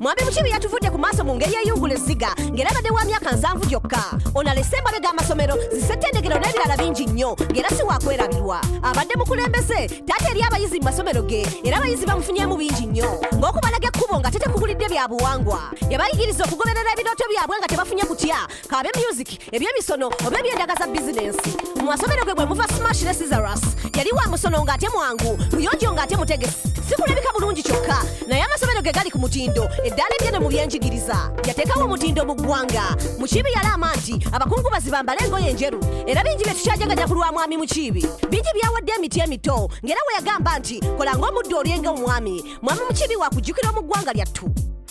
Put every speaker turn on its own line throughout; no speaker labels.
mwami mukibi yatuvudde ku maaso mu ngeri eyungula ezziga ng'era abadde wa myaka nsanvu gyokka ono alese embabe g'amasomero zisettendekero n'ebirala bingi nnyo ng'era si wakwerabirwa abadde mukulembeze taata eri abayizi mu masomero ge era abayizi bamufunyemu bingi nnyo ng'okubalaga ekkubo nga tetekugulidde bya buwangwa yabayigiriza okugoberera ebirooto byabwe nga tebafunye kutya kaabe myuziki ebyemisono oba eby'endaga za bizinensi mu masomero ge bwe muva smash ne sizaras yali wa musono ng'ate mwangu muyonjo ng'ate mutegesi sikulabika bulungi kyokka naye amasomero ge gali ku mutindo eddaala eddene mu byenjigiriza yateekawo omutindo mu ggwanga mukiibi yalaama nti abakungubazi bambale engoye enjeru era bingi bye tukyajaganya ku lwa mwami mukiibi bingi byawadde emiti emito ng'era we yagamba nti kola ng'omuddu olyenga omwami mwami mukiibi wakujjukira mu ggwanga lyattu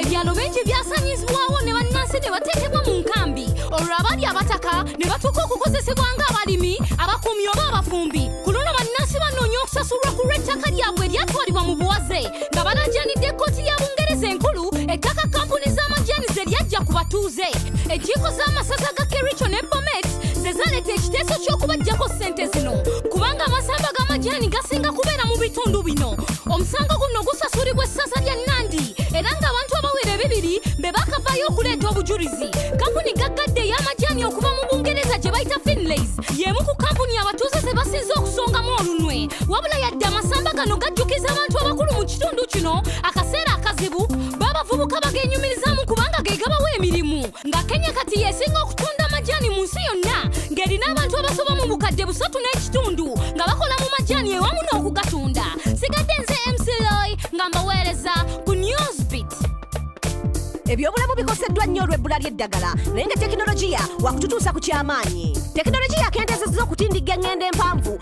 ebyalo bingi byasanyizibwawo ne bannansi ne bateekebwa mu nkambi olwo abali abataka ne batuuka okukozesebwa ng'abalimi abakuumi oba abafumbi ku luno bannansi banoonya okusasulwa ku lw'ettaka lyabwe eryatwalibwa mu buwaze nga balajanidde ekkooti ya bungereza enkulu ettaka kampuni z'amajaani ze lyajja ku batuuze enkiiko z'amasaza ga kericho ne bomet ze zaleeta ekiteeso ky'okubajjako ssente zino kubanga amasamba g'amajaani gasinga kubeera mu bitundu bino omusango guno gusasulibwa essaza lya nandi era ng'abantu abawera ebibiri be bakavaayo okuleeta obujulizi kampuni gaggadde ey'amajaani okuva mu bungereza gye bayita finlays y'emu ku kampuni abatuuze ze basinze okusongamu olunwe wabula yadde amasamba gano gajjukiza abantu abakulu mu kitundu kino akaseera akazibu baabavubuka bagenyumirizamu kubanga ge gabawa emirimu nga kenya kati yesinga okutunda amajaani mu nsi yonna ng'erina abantu abasoba mu bukadde busatu n'ekitundu nga bakola mu majaani ewamu n'okugatunda sigadde nze mcloi nga mbaweereza ku newsbit
ebyobulamu bikoseddwa nnyo olw'ebbula ly'eddagala naye nga tekinologiya wakututuusa ku ky'amaanyi tekinologiya akendeezezza okutindigga eng'endo empanvu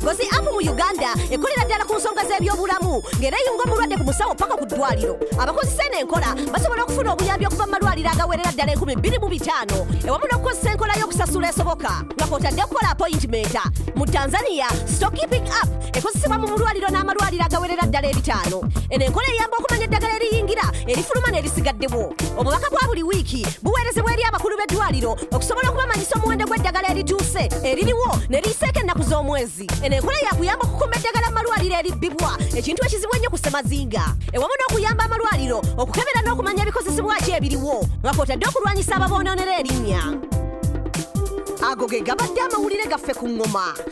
Gozi app mu Uganda ekolera ddala ku nsonga z'ebyobulamu ng'era eyunga omulwadde ku musawo paka ku ddwaliro. Abakozesa eno enkola basobola okufuna obuyambi okuva mu malwaliro agawerera ddala enkumi bbiri mu bitaano ewamu n'okukozesa enkola y'okusasula esoboka nga kwotadde okukola apoyintimenta. Mu Tanzania, Stockkeeping app ekozesebwa mu mulwaliro n'amalwaliro agawerera ddala ebitaano. Eno enkola eyamba okumanya eddagala eriyingira erifuluma n'erisigaddewo. Obubaka bwa buli wiiki buweerezebwa eri abakulu b'eddwaliro okusobola okubamanyisa omuwendo gw'eddagala erituuse eririwo ne liyiseeko ennaku z'omwezi eno enkola yakuyamba okukuuma eddagala mu malwaliro eribbibwa ekintu ekizibu ennyo ku ssemazinga ewamu n'okuyamba amalwaliro okukebera n'okumanya ebikozesebwa ki ebiriwo nga kwotadde okulwanyisa ababoonoonera erinnya ago ge gabadde amawulire gaffe ku ŋŋoma